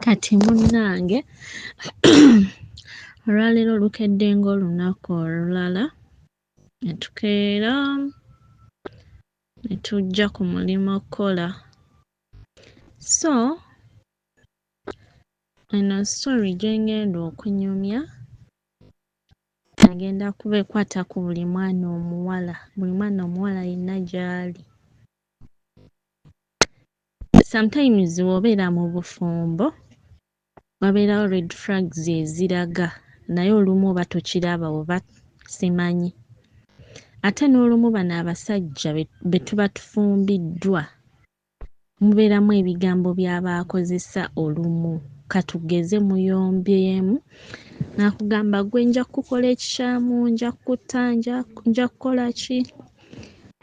Kati munnange olwaleero lukedde ng'olunaku olulala ne tukeera ne tujja ku mulimu okukola so eno story gye ng'enda okunyumya egenda kuba ekwata ku buli mwana omuwala buli mwana omuwala yenna gy'ali Sometimes bwobeera mubufumbo wabeerawo red flags eziraga naye olumu oba tokiraba oba simanyi ate nolumu bano abasajja betuba tufumbiddwa mubeeramu ebigambo byabakozesa olumu katugeze muyombyemu nakugamba gwe njakukola ekikyamu, njakutta, njakukolaki.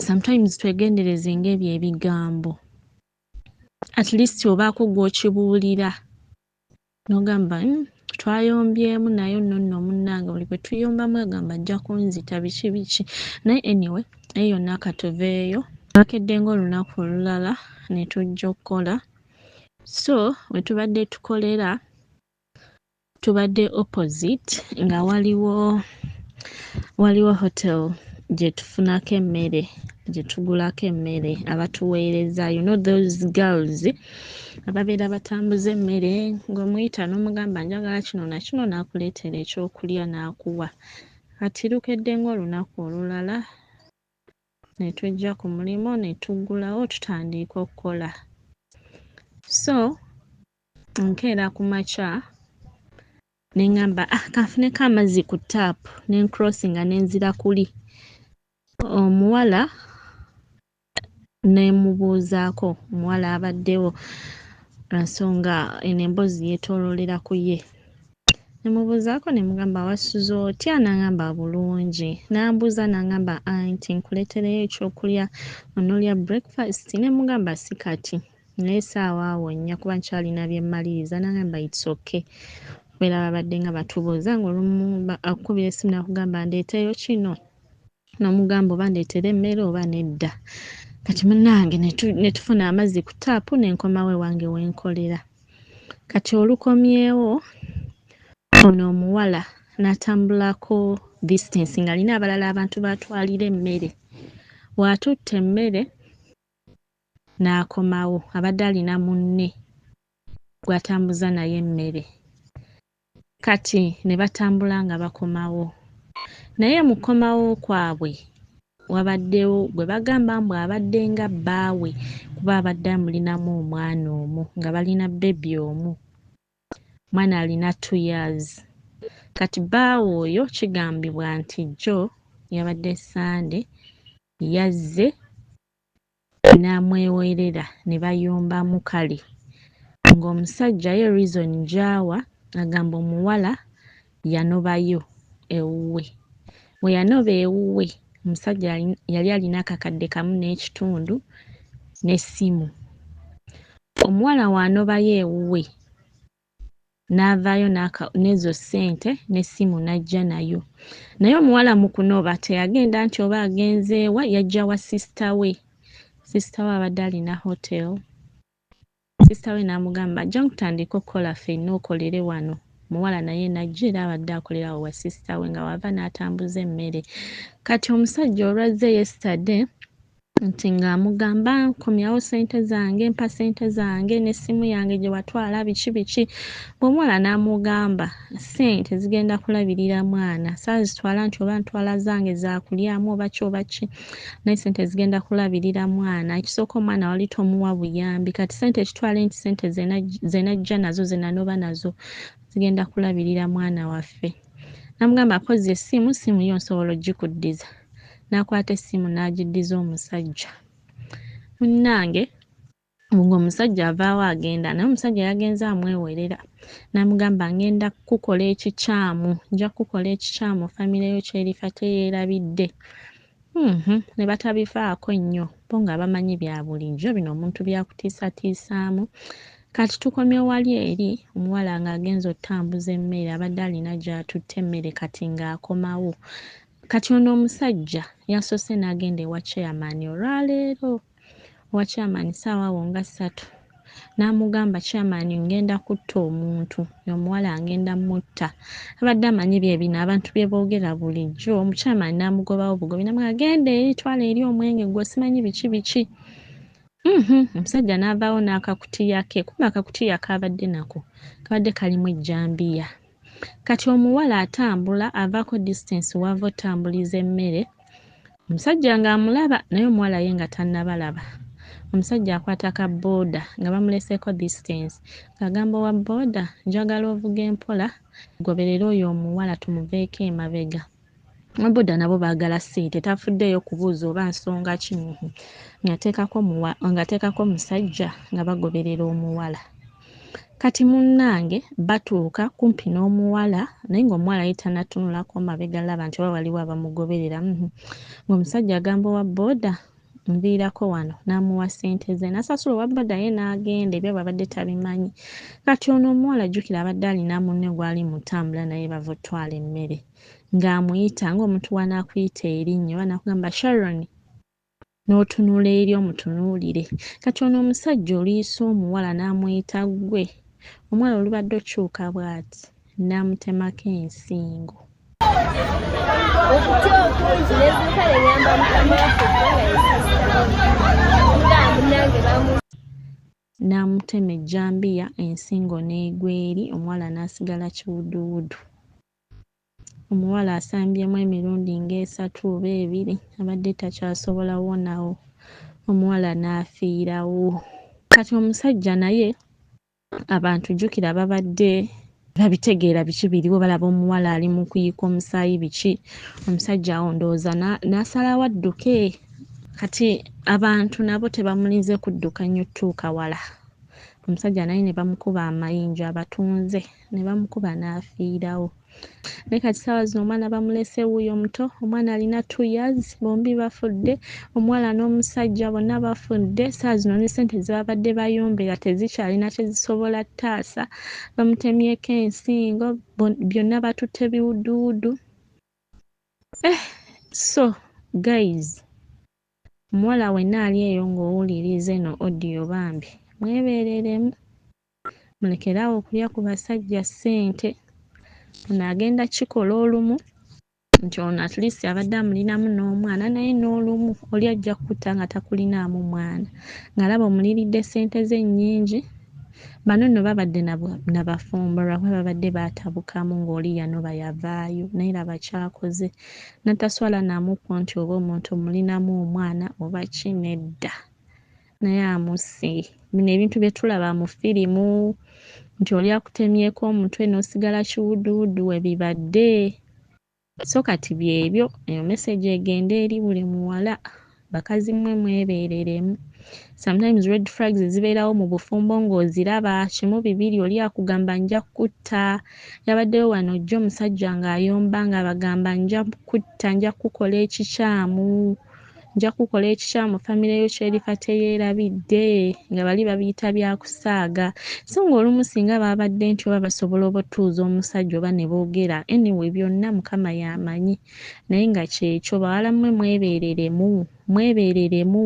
sometimes twegendereze nga ebyo ebigambo at least obaako gwokibuulira nogamba hmm, twayombyemu naye nno nno munnange buli bwe tuyombamu agamba ajja kunzita biki biki naye anyway naye yonna katuveeyo twakedde ng'olunaku olulala ne tujja okukola so we tubadde tukolera tubadde opposite nga waliwo waliwo hotel gyetufunako emmere gyetugulako emmere abatuweereza you know those girls ababeera batambuza emmere ng'omuyita n'omugamba njagala kino nakino n'akuleetera ekyokulya n'akuwa kati lukedde ng'olunaku olulala ne tujja ku mulimu ne tuggulawo tutandiika okukola so Nkeera ku makya ne ŋŋamba ah, kanfuneko amazzi ku ttaapu ne nkrosinga ne nzira kuli omuwala ne mmubuuzaako omuwala abaddewo lwa nsonga eno emboozi yeetooloolera ku ye. Ne mmubuuzaako ne mmugamba wasuze otya n'aŋamba bulungi n'ambuuza n'aŋamba anti nkuleetereyo ekyokulya onoolya breakfast ne mmugamba si kati naye saawa awo nnya kuba nkyalina bye mmaliriza nagamba it's okay kubeera babadde nga batubuuza ng'olumu akukubira essimu nakugamba ndeeteyo kino n'omugamba oba ndeetere emmere oba nedda kati munnange ne tufuna amazzi ku taapu ne nkomawo ewange we nkolera kati olukomyewo ono omuwala n'atambulako distance ng'alina abalala abantu baatwalira emmere waatutte emmere n'akomawo abadde alina munne gw'atambuza naye emmere kati ne batambula nga bakomawo naye mu kukomawo kwabwe wabaddewo gwe bagamba mbu abadde nga bbaawe kuba abadde amulinamu omwana omu nga balina bbebi omu, omwana alina two years. Kati bbaawe oyo kigambibwa nti jjo yabadde Ssande yazze namwewoerera ne bayomba mukali nga omusajja ye reason gyawa agamba omuwala yanobayo ewuwe weyanoba ewuwe omusajja yali alina akakadde kamu nekitundu ne simu omuwala wanobayo ewuwe n'avaayo n'aka n'ezo ssente n'essimu n'ajja nayo naye omuwala mu kunoba teyagenda nti oba agenze wa yajja wa sisita we sisita we abadde alina hotel sisita we n'amugamba ajja nkutandika okukola ffenna okolere wano muwala naye najja era abadde akolera awo wa sisita we nga wava n'atambuza emmere kati omusajja olwazze yesterday nti nga amugamba nkomyawo sente zange mpa sente zange ne simu yange gye watwala biki biki bwomuwala n'amugamba sente zigenda kulabirira mwana saazitwala nti oba ntwala zange zakulyamu oba ki oba ki naye sente zigenda kulabirira mwana ekisooka omwana wali tomuwa buyambi kati sente kitwale nti sente zenajja nazo zenanoba nazo zigenda kulabirira mwana waffe Namugamba kozza essimu, ssimu yo nsobola ogikuddiza. N'akwata essimu n'agiddiza omusajja. Munnange ng'omusajja avaawo agenda naye omusajja yagenze amwewerera n'amugamba ngenda kukukola ekikyamu nja kukukola ekikyamu famire yo kyerifa teyeerabidde Uhmm nebatabivaako nnyo bo nga bamanyi byabulijjo bino omuntu byakutiisatiisaamu Kati tukomye wali eri omuwala nga agenze otambuza emmere abadde alina gyatutte emmere Kati nga akomawo Kati ono omusajja yasose nagenda ewa chairman olwaleero wa chairman saawa awo nga ssatu namugamba chairman ngenda kutta omuntu omuwala ngenda mutta abadde amanyi byebino abantu byebogera bulijjo omuchairman namugobawo bugobi namugamba genda eri twala eri omwenge gwe simanyi biki biki Mhm, omusajja n'avaawo n'akakutiya ke kuba akakutiya kaabadde nako kabadde kalimu ejjambiya Kati omuwala atambula avaako distance w'ava otambuliza emmere, omusajja ng'amulaba naye omuwala ye nga tannabalaba. Omusajja akwata ka boda nga bamuleseeko distance ng'agamba owa boda njagala ovuge mpola, goberera oyo omuwala tumuveeko emabega. Ababuda nabo baagala ssente tafuddeeyo kubuuza oba nsonga ki ng'ateekako omusajja nga bagoberera omuwala. Kati munnange batuuka kumpi n'omuwala naye ng'omuwala ye tanatunulako mabega laba nti oba waliwo abamugoberera ng'omusajja agamba owa boda nviirako wano n'amuwa ssente ze nasasula owa boda ye n'agenda ebyo babadde tabimanyi. Kati ono omuwala jjukira abadde alina munne gw'ali mu ntambula naye bava ottwala emmere. ng'amuyita ng'omuntu bw'anaakuyita erinnya oba n'akugamba Sharon n'otunula eri omutunuulire. Kati ono omusajja oluyisa omuwala n'amuyita ggwe, omuwala olubadde okyuka bw'ati n'amutemako ensingo. Okutya okungi n'eziika ne nyamba mukama waffe kubanga yesasitamu. n'amutema ejjambiya ensingo n'egwa eri omuwala n'asigala kiwuduwudu. Omuwala asambyemu emirundi ng'esatu oba ebiri abadde takyasobola kuwonawo omuwala n'afiirawo. Kati omusajja naye abantu jjukira babadde tebabitegeera biki biriwo, balaba omuwala ali mu kuyiika omusaayi biki, omusajja awo ndowooza n'asalawo adduke. Kati abantu nabo tebamulinze kudduka nnyo kutuuka wala, omusajja naye ne bamukuba amayinja abatuunze. ne bamukuba n'afiirawo. Naye kati ssaawa zino omwana bamulese wuuyo omuto, omwana alina two years, bombi bafudde, omuwala n'omusajja bonna bafudde, ssaawa zino ne ssente ze babadde bayombera tezikyalina kye zisobola taasa, bamutemyeko ensingo, byonna batutte biwuduwudu. Eh! So guys, omuwala wenna ali eyo ng'owuliriza eno audio bambi mwebeereremu. Mulekere awo okulya ku basajja ssente. Ono agenda kikola olumu nti ono at least abadde amulinamu n'omwana naye n'olumu oli ajja kukutta nga takulinaamu mwana ng'alaba omuliridde ssente ze nnyingi. Bano nno babadde na bafumbo lwakuba babadde baatabukamu ng'oli yanoba yavaayo naye laba ky'akoze nataswala na mukwo nti oba omuntu omulinamu omwana oba ki nedda. naye amusse bino ebintu byetulaba mu firimu nti oli akutemyeko omutwe nosigala kiwuduwudu webibadde so kati byebyo eyo message egende eri buli muwala bakazi mwe mwebereremu sometimes red flags zibeerawo mu bufumbo ng'oziraba kimu bibiri oli akugamba nja kukutta yabaddewo wano ojja omusajja ng'ayomba ng'abagamba nja kukutta nja kukukola ekikyamu Nja kukola ekikyamu famire yo ky'erifa teyeerabidde nga bali babiyita bya kusaaga. So ng'olumu singa baabadde nti oba basobola obutuuza omusajja oba ne boogera. Anyway byonna Mukama y'amanyi. Naye nga ky'ekyo. Bawala mmwe mwebeereremu. Mwebeereremu.